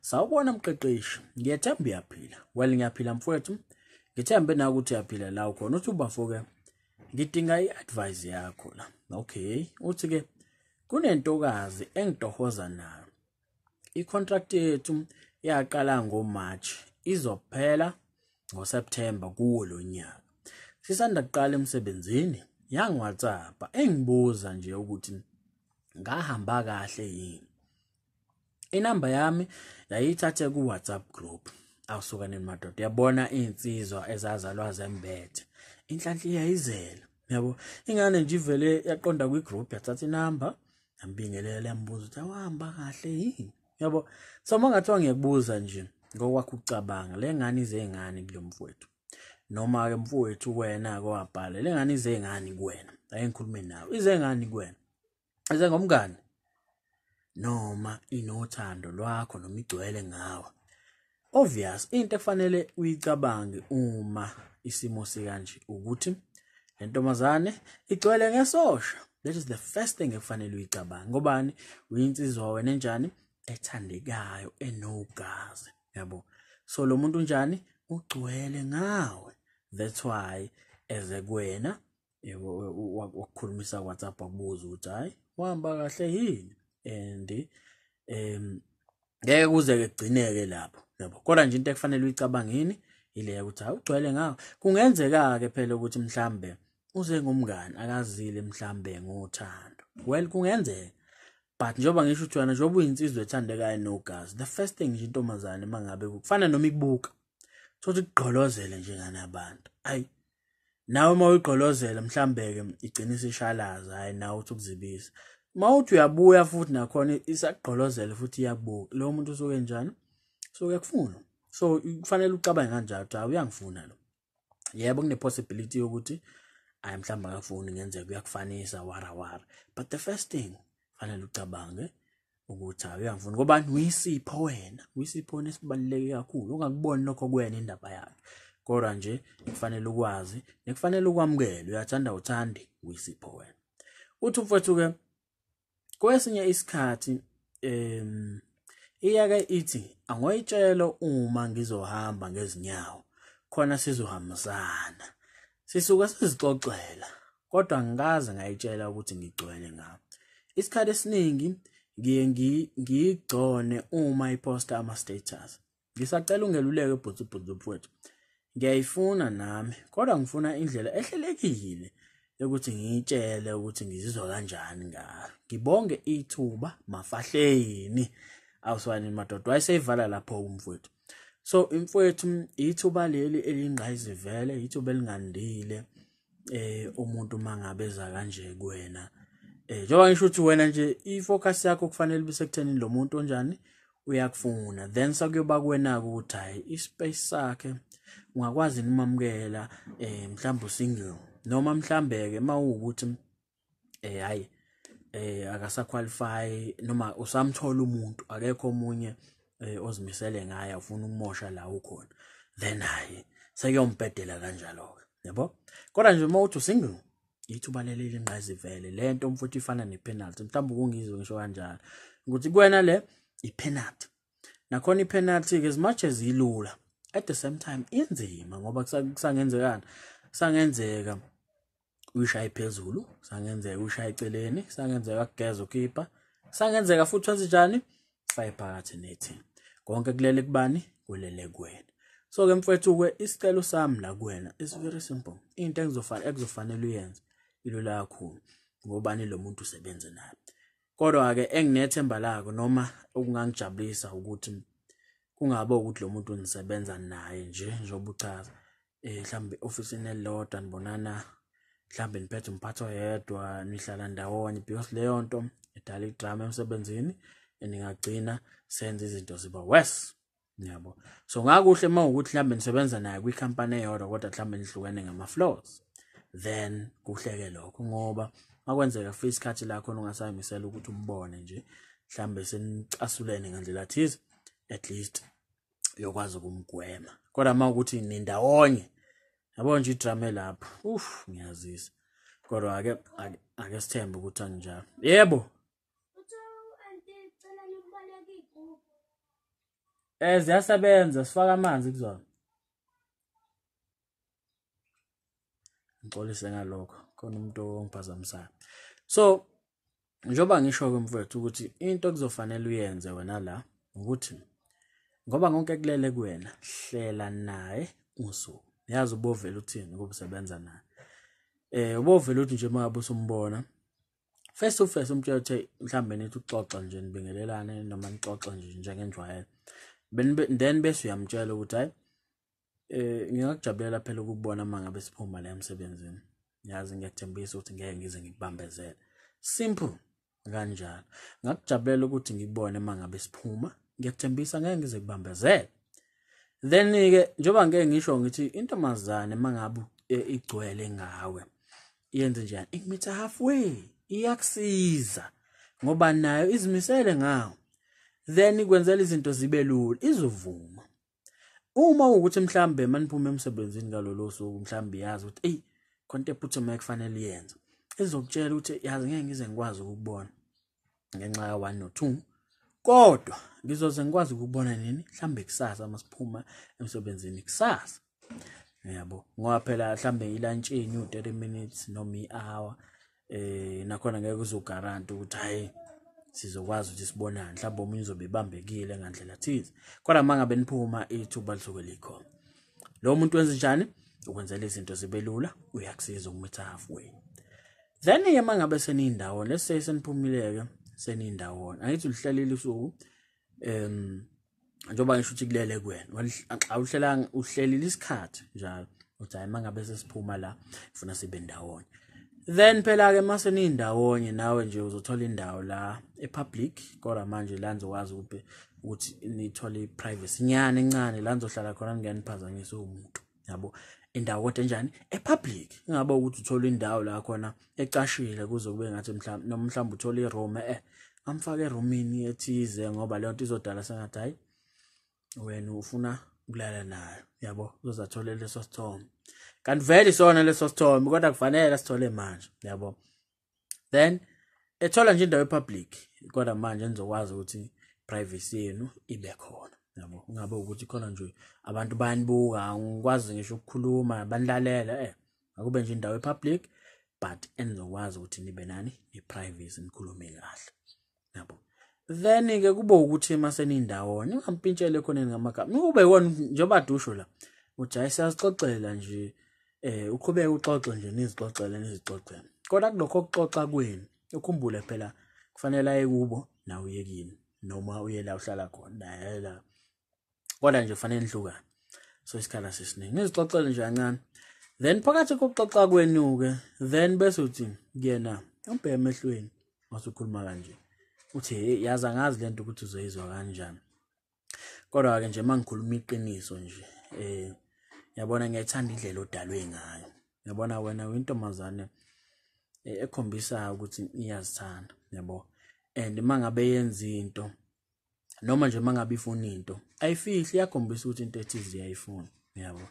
Sawubona mqeqeshi, ngiyethemba uyaphila. Well ngiyaphila mfowethu. Ngithembe na ukuthi uyaphila la ukhona. Uthi ubafoke ngidinga i-advice yakho la. Okay, uthi ke kunentokazi engitohoza nayo. I-contract yethu yaqala ngo-March, izophela ngoSeptember kuwo lo nyaka. Sisanda kuqala emsebenzini yangiwhatsappa engibuza nje ukuthi ngahamba kahle yini. inamba yami yayithathe ku-whatsapp group awusukaneni madoda uyabona iy'nsizwa ezazalwa zembethe inhlanhla iyayizela yabo ingane nje ivele yaqonda kwi-group yathatha inamba yambingelela yambuza ukuthi awahamba kahle yini yabo so uma ngathiwa ngiyakubuza nje ngokwakho ukucabanga le ngane izey'ngane kulo mfowethu noma-ke mfowethu wena-ke wabhala le ngane izey'ngane kuwena ayengikhulume nawe izey'ngane kuwena eze ngomngane noma inothando lwakho noma igcwele ngawe obvious into efanele uyicabange uma isimo sikanje ukuthi lentombazane igcwele ngesosha that is the first thing ekufanele uyicabange ngobani uyinsizwa wena enjani ethandekayo enogazi yabo so lo muntu unjani ugcwele ngawe that's why eze kuwena wakukhulumisa WhatsApp wakubuza ukuthi hayi wahamba kahle yini and um ngeke kuze kugcineke lapho yabo kodwa nje into ekufanele uyicabangini ile ukuthi hawu ugcwele ngawo kungenzeka ke phela ukuthi mhlambe uze ngumngani akazile mhlambe ngothando well kungenzeka but njengoba ngisho ukuthi wena njengoba uyinsizwa ethandekayo nogazi the first thing nje intombazane mangabe kufana noma ibuka thothi kugqolozele nje ngane abantu ayi nawe uma uyigqolozela mhlawumbe-ke igcina isishalaza hhayi nawe uthi ukuzibisa uma uthi uyabuya futhi nakhona isakugqolozele futhi iyakubuka lowo muntu usuke njani so uyakufuna so kufanele ucabange kanjalo ukuthi uyangifuna lo yebo kune-possibility yokuthi ayi mhlawumbe akafuni ngenzeka uyakufanisa warawara but the first thing fanele ucabange ukuthi hayi uyangifuna ngoba uyisipho wena uyisipho wena esibaluleke kakhulu ungakuboni lokho kuwena indaba yakhe kodwa nje kufanele ukwazi nekufanele ukwamukele uyathanda uthandi uyisipho wena uthi umfowethu ke kwesinye isikhathi em iyake ithi angoyitshelo uma ngizohamba ngezinyawo khona sizohambisana sisuke sizixoxela kodwa ngikaze ngayitshela ukuthi ngigcwele ngawo isikhathi esiningi ngiye ngiyigcone uma iposta ama-status ngisacela ungeluleke bhutubhutu mfowethu ngiyayifuna nami kodwa ngifuna indlela ehlelekile yokuthi ngiyitshele ukuthi ngizizwa kanjani ngayo ngibonge ithuba mafahleni awuswani madoda wayeseyivala lapho umfowethu so imfowethu ithuba leli elingqayizivele ithuba elingandile eh umuntu mangabe eza kanje kuwena eh njengoba ngisho ukuthi wena nje ifocus yakho kufanele bisekuthenini lo muntu onjani uyakufuna then sakuyoba kuwena ukuthi hayi ispace sakhe ungakwazi nimamukela eh mhlawumbe single noma mhlambe ke mawukuthi eh hayi eh akasa qualify noma usamthola umuntu akekho omunye eh, ozimisele ngaye ufuna ukumosha la ukhona then hayi seyombhedela kanjalo ke yabo kodwa nje uma uthi single ithuba leli lingqazi vele lento umfuthi ifana nepenalty mhlawumbe kungizwe ngisho kanjalo ukuthi kuwena le ipenalty nakhona ipenalty ke as much as ilula at the same time inzima ngoba kusangenzekana kusangenzeka uyishaye phezulu sangenzeka uyishaye eceleni sangenzeka kugeza ukhipha sangenzeka futhi wenze njani faye phakathi nethi konke kulele kubani kulele kuwena so ke mfethu ke isicelo sami la kuwena is very simple into engizofanele ekuzofanele uyenze ilula kakhulu ngobani lo muntu usebenze naye kodwa ke enginethemba lako noma okungangijabulisa ukuthi kungabe ukuthi lo muntu nisebenza naye nje njengoba uchaza eh mhlambe ofisini elilodwa nibonana mhlambe niphethe umphathi oyedwa nihlala ndawonye because leyo nto edala idrama emsebenzini ningagcina senza izinto ziba worse Ngiyabo. So ngakuhle uma ukuthi mhlambe nisebenza naye kwi company eyodwa kodwa mhlambe nihlukene ngama floors. Then kuhleke lokho ngoba makwenzeka for isikhathi lakho ungasayamisela ukuthi umbone nje mhlambe senicasulene ngandlela thize at least uyokwazi ukumgwema kodwa uma ukuthi nindawonye yabo nje idrama lapho uff ngiyazisa kodwa ake ake sithembe ukuthi anginjalo yebo Eh ziyasebenza sifaka amanzi kuzona. Ngixolise ngalokho khona umuntu ongiphazamisayo. So njengoba ngisho ke mfowethu ukuthi into kuzofanele uyenze wena la ukuthi ngoba konke kulele kuwena hlela naye usuku. Yazi ubovela uthini ukusebenza naye. Eh ubovela uthi nje uma usumbona face to face umtshela ukuthi mhlawumbe nithi uxoxa nje nibingelelane noma nixoxe nje njengenjwayelo then bese uyamtshela ukuthi hayi eh ngingakujabulela phela ukubona uma ngabe siphuma la emsebenzini ngiyazi ngiyathembisa ukuthi ngeke ngize ngikubambezele simple kanjalo ngakujabulela ukuthi ngikubone uma ngabe siphuma ngiyathembisa ngeke ngize kubambezele then ke njengoba ngeke ngisho ngithi intombazane mangabe eh, igcwele ngawe yenze njani ikumitha halfway iyakusiza ngoba nayo izimisele ngawo then ikwenzela izinto zibe lula izovuma uma ukuthi mhlambe maniphume emsebenzini ngalolo suku mhlambe yazi ukuthi ey khonto ephuthumayo kufanele yenze izokutshela ukuthi yazi ngeke ngize ngikwazi ukubona ngenxa ya 1 no 2 kodwa ngizoze ngikwazi ukubona nini mhlambe kusasa uma siphuma emsebenzini kusasa yabo ngoba phela mhlambe ilantshini u-30 minutes noma i-hour eh nakhona ngeke uzogaranta ukuthi hayi sizokwazi ukuthi sibonane mhlawumbe omunye uzobe ebambekile ngandlela thize kodwa uma ngabe niphuma ithuba lisuke likhona lo muntu wenza njani ukwenzela izinto zibe lula uyakusiza umitha halfway then ke mangabe seniyindawo let's say seniphumileke seniyindawona angithi ulihlelile usuku um njengoba ngisho ukuthi kulele kuwena xa uhlelanga uhlelile isikhathi njalo uthi hayi mangabe sesiphuma la ngifuna sibe ndawonye then phela ke mase nindawonye nawe nje uzothola indawo la epublic kodwa manje la nizokwazi ukuthi ukuthi nithole iprivacy nyane encane la nizohlala khona ningeniphazanyisa umuntu yabo indawo kodwa enjani epublic ingabe ukuthi uthola indawo la khona ecashile kuze kube ngathi mhlawumbe noma mhlawumbe uthola iroom eh amfake eroomini ethize ngoba leyo nto izodala sengathi hayi wena ufuna ukulala nayo yabo uzozathola leso sithombe kanti vele isona leso sithombe kodwa kufanele sithole manje yabo then ethola nje indawo epublic kodwa manje nizokwazi ukuthi privacy yenu ibe khona yabo ungabe ukuthi khona nje abantu bayanibuka ngikwazi ngisho ukukhuluma banilalela eh akube nje indawo epublic but enizokwazi ukuthi nibe nani ne-privacy nikhulume kahle yabo then ke kube ukuthi uma senindawonye ungampintshele khoneni ngamagama ube wona njengoba dusho la uthi hayi siyazixoxela nje eh uqhubeke uxoxe nje nizixoxele nizixoxele kodwa kulokho kuxoxa kwenu ukhumbule phela kufanele aye kubo nawe uyekini noma uye la uhlala khona naye la kodwa nje kufanele nihlukane so isikhala sisiningi ngizixoxele nje kancane then phakathi kokuxoxa kwenu-ke then bese uthi kuyena umbheke emehlweni wasukhuluma kanje uthi hey yazi angazi le nto ukuthi uzoyizwa kanjani kodwa-ke nje uma ngikhuluma iqiniso nje um yabona ngiyayithanda indlela odalwe ngayo yabona wena uyintombazane eh, ekhombisa ukuthi iyazithanda yabo and uma ngabe yenza into noma nje mangabe ifuna into ayifihli yakhombisa ukuthi into ethize uyayifuna uyabo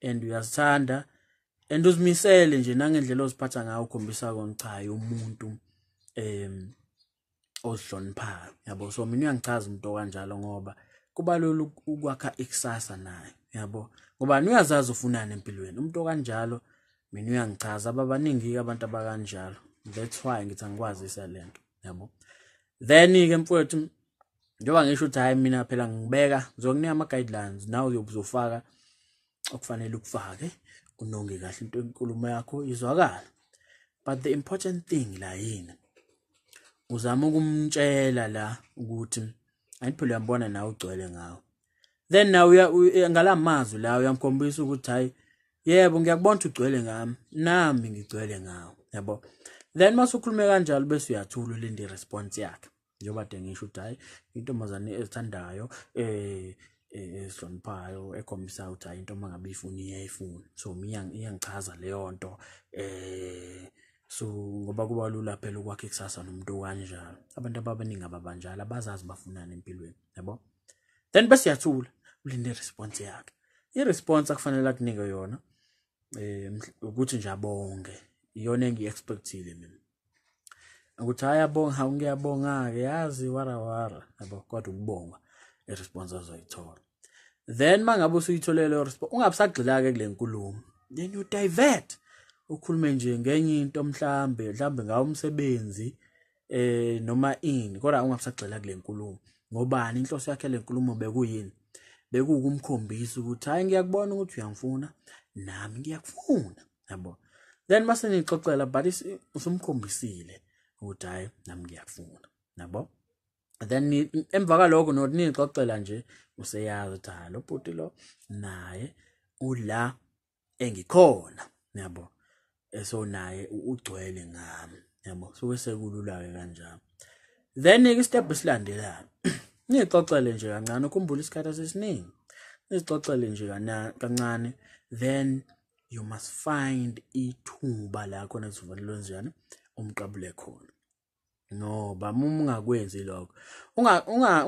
and uyazithanda and uzimisele nje nangendlela oziphatha ngayo ukhombisa kona cha hayi umuntu em ozihloniphayo yabo so mina uyangichaza umuntu okanjalo ngoba kubalula ukwakha ikusasa naye yabo ngoba uyazazi ufunani empilweni umuntu okanjalo mina uyangichaza ababaningi abantu abakanjalo that's why ngithi angikwazisa lento yabo then ke mfowethu njengoba ngisho ukuthi hayi mina phela ngibeka ngizokunika ama guidelines nawe uyobuzofaka okufanele ukufake unonge kahle into enkulumo yakho izwakala but the important thing la yini uzama ukumtshela la ukuthi ayiphela uyambona nawe ugcwele ngawo then now ngala mazwi lawo uyangikhombisa ukuthi hayi yebo ngiyakubona ukuthi ugcwele ngami nami ngigcwele ngawo yabo then mase ukhulume kanjalo bese uyathula ulinde response yakhe njengoba de ngisho ukuthi hayi intombazane ezithandayo eh, eh esihloniphayo ekhombisa ukuthi hayi into mangabe ifuna iyayifuna so mina iyangichaza leyo nto eh so ngoba kuba lula phela ukwakhe kusasa nomuntu kanjalo abantu ababaningi ababanjalo abazazi bafunani empilweni yabo then bese uyathula ulinde response yakhe i response akufanele akunike yona eh ukuthi nje abonge iyona engiexpectile mina ukuthi hayi abonga hawu ngiyabonga ke yazi wara wara yabo kodwa ukubonga i response azoyithola then mangabe usuyitholele i response ungabusagxila ke kule nkulumo then you divert ukhulume nje ngenye into mhlambe mhlambe ngawo umsebenzi eh noma ini kodwa ungasagxila kule nkulumo ngobani inhloso yakhe lenkulumo bekuyini bekukumkhombisa ukuthi hayi ngiyakubona ukuthi uyangifuna nami ngiyakufuna yabo then mase nixoxela but usumkhombisile ukuthi hayi nami ngiyakufuna yabo then emva kwaloko not nixoxela nje useyazi ukuthi hayi lo bhuti lo naye ula engikhona yabo eso naye ugcwele ngami yabo so sekulula ke kanjalo then ke step silandelayo ngixoxele nje kancane ukhumbula isikhathi sesiningi ngixoxele nje kancane then you must find ithuba la khona kuzovalelwa njani umqabule khona no bam uma ungakwenzi lokho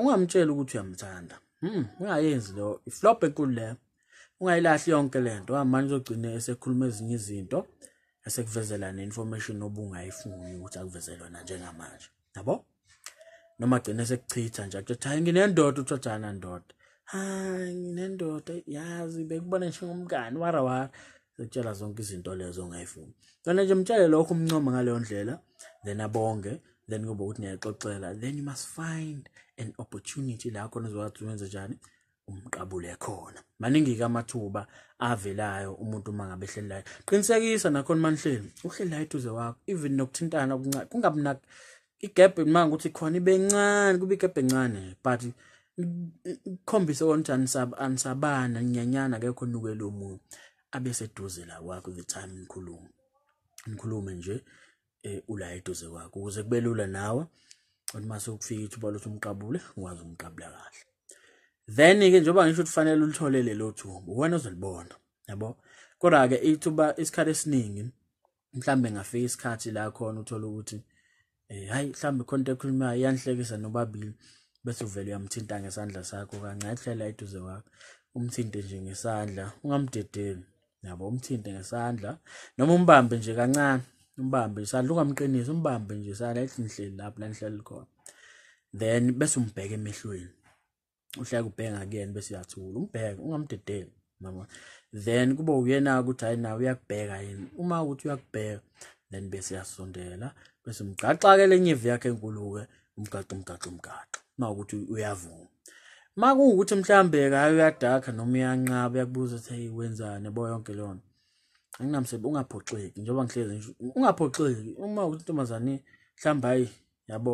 ungamtsheli ukuthi uyamthanda hmm, ungayenzi lo iflop enkulu leyo ungayilahli yonke le nto manje uzogcine esekhuluma ezinye izinto esekuvezela ne-information obungayifuni ukuthi akuvezele yona njengamanje yabo noma gcine sekuchitha nje akuthi hayi nginendoda uthothana ndoda hayi nginendoda yazi bekubona nje ngomngani wara wara yokutshela zonke izinto lezo ongayifuni kona nje mtshele lokho umncoma ngaleyo ndlela then abonge then kube ukuthi niyaxoxela then you must find an opportunity la khona uzokwazi wenze njani umqabule khona maningi-ke amathuba avelayo umuntu uma ngabe ehleli layo qinisekisa nakhona manihleli uhleli layo eduze wakho even nokuthintana kungabi igap ngimanga ukuthi khona ibencane kube igap encane but ikhombise ukuthi anisaba anisabana nyanyana akekho nukelo omunye abe seduze la kwakho the time nikhuluma nikhulume nje eh, ula eduze kwakho ukuze kube lula nawe ukuthi mase ukufika ithuba lokuthi umqabule ukwazi umqabula kahle then ke njengoba ngisho ukuthi fanele ulithole lelo thuba uwena ozolibona yabo kodwa ke ithuba isikhathi esiningi mhlambe ngafika isikhathi la khona uthola ukuthi eh hayi mhlambe khonto ekhulumayo iyanhlekisa nobabili bese uvele uyamthinta ngesandla sakho kancane hlela eduze kwakho umthinte nje ngesandla ungamdedeli yabo umthinte ngesandla noma umbambe nje kancane umbambe isandla ungamqinisi umbambe nje isandla ethi ngihleli lapho la ngihleli khona then bese umbheke emehlweni uhleka ubhenga kuyena bese uyathula umbheke ungamdedeli mama then kube uyena ukuthi hayi nawe uyakubheka yini uma ukuthi uyakubheka then bese yasondela bese umgaxa-ke le nyevu yakhe enkulu-ke umgaxa umgaxa umgaxa uma ukuthi uyavuma uma kuwukuthi mhlawumbe-ke hayi uyadakha noma uyanqaba uyakubuza ukuthi heyi wenzani yabo yonke leyo nto anginamsebenzi ungaphoxeki njengoba ngihlezi ngisho ungaphoxeki uma ukuthi intombazane mhlawumbe hayi yabo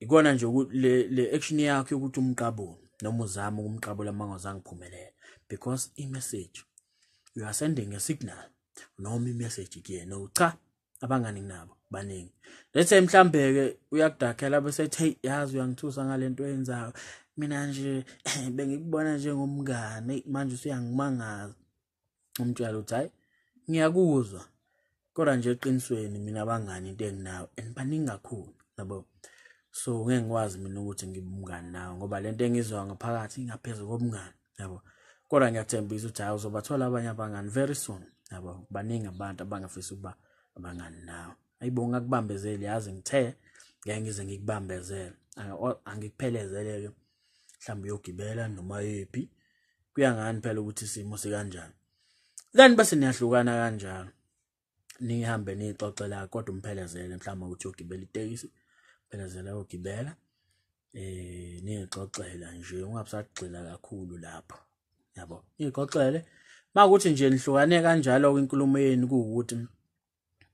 ikona nje le le action yakho yokuthi umqabule noma uzama ukumqabula mangazange phumelela because i message you are sending a signal noma i message kuyena ucha abangani nabo baningi let's say mhlambe ke uyakudakhela bese ethi hey yazi uyangithusa ngalento oyenzayo mina nje bengikubona njengomngane manje usuyangimangaza umtshela ukuthi hayi ngiyakuzwa kodwa nje eqinisweni mina abangani into enginayo and baningi kakhulu yabo so ngeke ngikwazi mina ukuthi ngibe umngani nawe ngoba lento engizwa ngaphakathi ingaphezulu kobungani yabo kodwa ngiyathembisa ukuthi hayi uzobathola abanye abangani very soon yabo baningi abantu abangafisa ukuba abangani nawe ayibo ngakubambezeli yazi ngithe ngeke ngize ngikubambezele angikuphelezele-ke mhlawumbe uyogibela noma yephi kuya ngani phela ukuthi isimo sikanjani then bese niyahlukana kanjalo nihambe nixoxela kodwa umphelezele mhlawumbe ukuthi uyogibela itekisi phelezela uyogibela eh nixoxela nje ungabusagxila kakhulu lapho yabo nixoxele makuthi nje nihlukane kanjalo kwinkulumo yenu ukuthi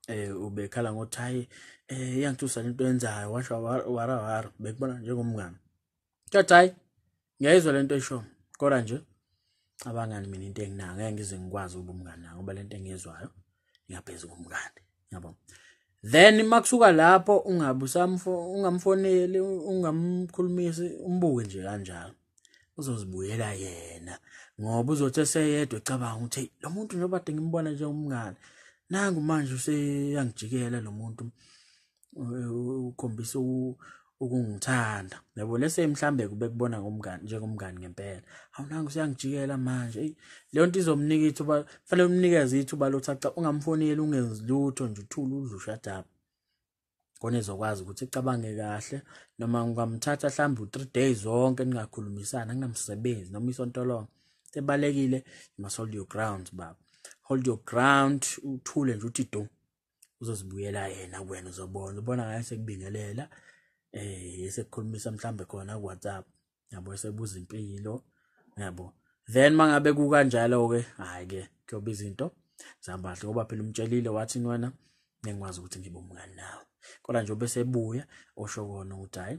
eh ubekhala ngothi hayi eh iyangithusa lento yenzayo washo wara wara bekubona njengomngane kuthathi hayi ngiyayizwa lento esho kodwa nje abangani mina into enginayo ngeke ngize ngikwazi ukuba umngane nayo ngoba lento engiyizwayo iyaphezulu kumngane yabo then makusuka lapho ungabusamfo ungamfoneli ungamkhulumisi umbuke nje kanjalo uzozibuyela yena ngoba uzothi eseyedwa ecabanga ukuthi lo muntu njengoba de ngimbona nje umngane nangu manje useyangijikela lo muntu ukhombisa ukungithanda yabo lese mhlambe kube kubona ngomngani njengomngani ngempela awunanga usiyangijikela manje eyi leyo nto izomnika ithuba fanele umnikeze ithuba lokuthi aca ungamfoneli ungenzi lutho nje uthule udlusha daba khona ezokwazi ukuthi icabange kahle noma ngingamthatha mhlawumbe u-three days zonke ningakhulumisani anginamsebenzi noma isonto lonke sebalekile you must hold your ground baba hold your ground uthule nje uthi do uzozibuyela yena kuwena uzobona ubona ngayo sekubingelela um eh, sekukhulumisa mhlawumbe khona ku-whatsapp yabo esebuza impilo yabo then mangabe kukanjalo ke hayi ke kuyoba izinto zambahle ngoba phela umtshelile wathi wena ngikwazi ukuthi ngibe umngani nawe kodwa nje obesebuya osho kona ukuthi hayi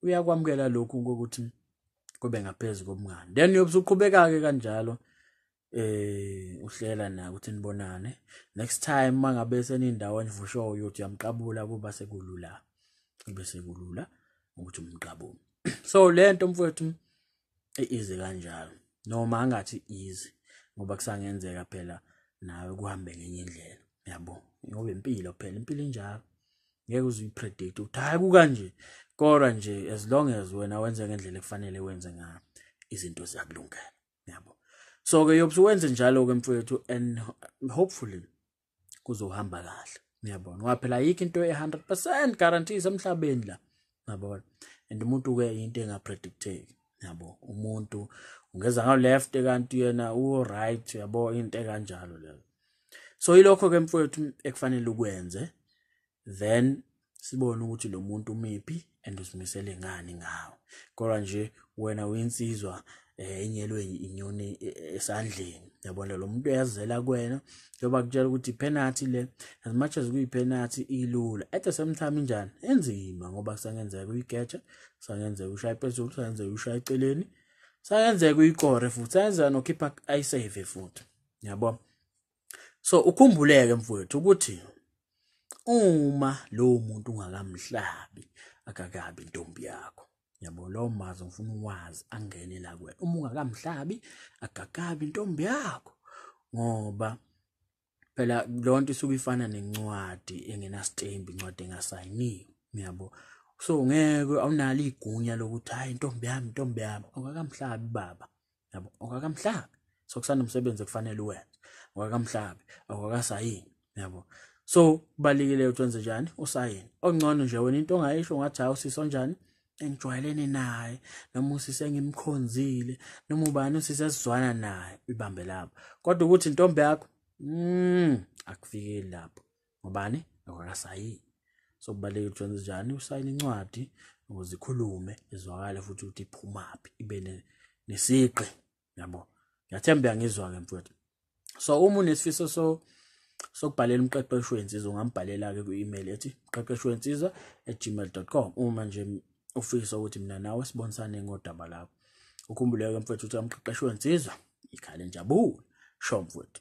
uyakwamukela lokhu ukuthi kube ngaphezulu komngani then uyobe usuqhubeka-ke kanjalo eh uhlela naye ukuthi nibonane next time mangabe senindawo enivusho uyothi uyamqabula kuba sekulula kube sekulula ukuthi umqabule so lento mfowethu iize kanjalo noma angathi easy ngoba kusangenzeka phela nawe kuhambe ngenye indlela yabo ngoba impilo phela impilo injalo ngeke uzipredict ukuthi hayi kukanje kodwa nje as long as wena wenze ngendlela efanele wenze ngayo izinto ziyakulungela yabo so ke yobse wenze njalo ke mfowethu and hopefully kuzohamba kahle uyabona ngoba phela ayikho into e-100 guarantee semhlabeni la yabona and umuntu-ke into engapredicteki yabo umuntu ungeza ngawu-left kanti yena u-right yabo into ekanjalo leyo so yilokho-ke mfowethu ekufanele ukwenze then sibone ukuthi lo muntu umiphi and usimisele ngani ngawo kodwa nje wena uyinsizwa eh, enyelwe inyoni e, e, esandleni yabona lo muntu uyazela kwena njengoba kutshela ukuthi penalty le as much as kuyipenalty ilula at the same time njani enzima ngoba kusangenzeka uyigetsha kusangenzeka ushaya phezulu kusangenzeka ushaya eceleni kusangenzeka uyikore futhi kusangenzeka nokhipha ayisave futhi yabo so ukhumbuleke mfowethu ukuthi uma lowo muntu ungakamhlabi akakabi intombi yakho yabo lowo mazi ngifuna uwazi angene la kuwena uma ungakamhlabi akakabi intombi yakho ngoba phela lonto isuke ifana nencwadi engenastembi incwadi engasayiniwe uyabo so ngeke awunalo igunya lokuthi hayi intombi yami intombi yami awukakamhlabi baba yabo okwakamhlabi so kusanomsebenzi ekufanele uwenze okwakamhlabi okwakasayini yabo so kubalekile ukuthi wenze njani usayini ongcono nje wena into ongayisho ngathi hawu sisi onjani engijwayelene naye noma usisi engimkhonzile noma ubani usisi esizwana naye ibambe lapho kodwa ukuthi intombi yakho mm akufikeli lapho ngobani ngokakasayini so kubalulekile ukuthi wenze njani usayine incwadi ukuze ikhulume izwakale futhi ukuthi iphumaphi ibe nesiqi yabo ngiyathemba uyangizwa-ke mfowethu so uma unesifiso so sokubhalela umqeqeshi wensizwa ungambhalela-ke kwi-email ethi mqeqeshi wensizwa at gmail com uma nje ufisa ukuthi mina nawe sibonisane ngodaba lakho ukhumbuleke mfowethu ukuthi amqeqeshi wensizwa ikhale njabula sho mfowethu